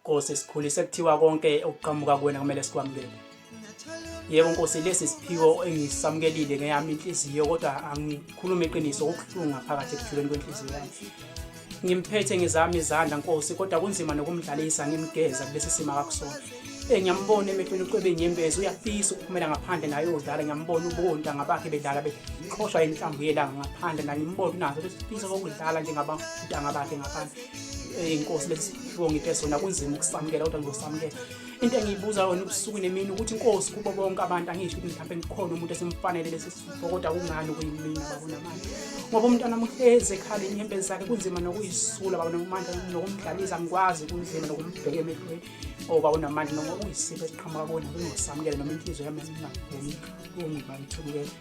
Nkosi sikhulise kuthiwa konke okuqhamuka kuwena kumele sikwamukele yebo nkosi lesi siphiwo engisamukelile ngeyami inhliziyo kodwa angikhulume iqiniso okubuhlungu ngaphakathi ekujuleni kwenhliziyo yami ngimphethe ngezami izandla nkosi kodwa kunzima nokumdlalisa ngimgeza kulesi simo akakusona Eh, ngiyambona emehlweni ucwebe inyembezi uyafisa ukuphumela ngaphandle naye udlala ngiyambona ubonta ngabakhe bedlala beqhoshwa inhlambu yelanga ngaphandle naye ngimbona unazo besifisa kokudlala njengabantanga bakhe ngaphandle eh, inkosi lesifo ngiphe sona kunzima ukusamukela kodwa ngizosamukela into engiyibuza yona ubusuku nemini ukuthi inkosi kubo bonke abantu angisho ukuthi mhlawumbe ngikhona umuntu esimfanele lesi ngokoda kungani kuyimina babonamandla ngoba umntwana muhlezi ekhala inyembezi zakhe kunzima nokuyisula babonamandla nokumdlalisa ngikwazi kunzima nokumbheka emehlweni o babonamandla noma kuyisipho esiqhamuka kona kungosamukele noma inhliziyo yami engingakuboni ungibangithulukele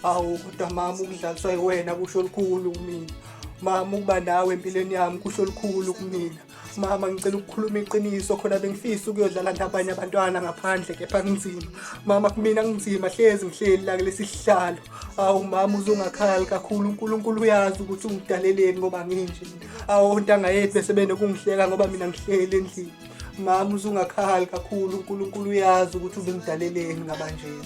awu kodwa mama ukudlaliswa yiwena kusho lukhulu kumina mama ukuba nawe empilweni yami kusho lukhulu kumina mama ngicela ukukhuluma iqiniso khona bengifisa ukuyodlala nabanye abantwana ngaphandle kepha kunzima mama kumina kunzima hlezi ngihleli la kulesi sihlalo awu mama uzungakhali kakhulu unkulunkulu uyazi ukuthi ungidaleleni ngoba nginje awu ontanga yethu bese benokungihleka ngoba mina ngihleli endlini mama uzungakhali kakhulu unkulunkulu uyazi ukuthi ubengidaleleni ngabanjena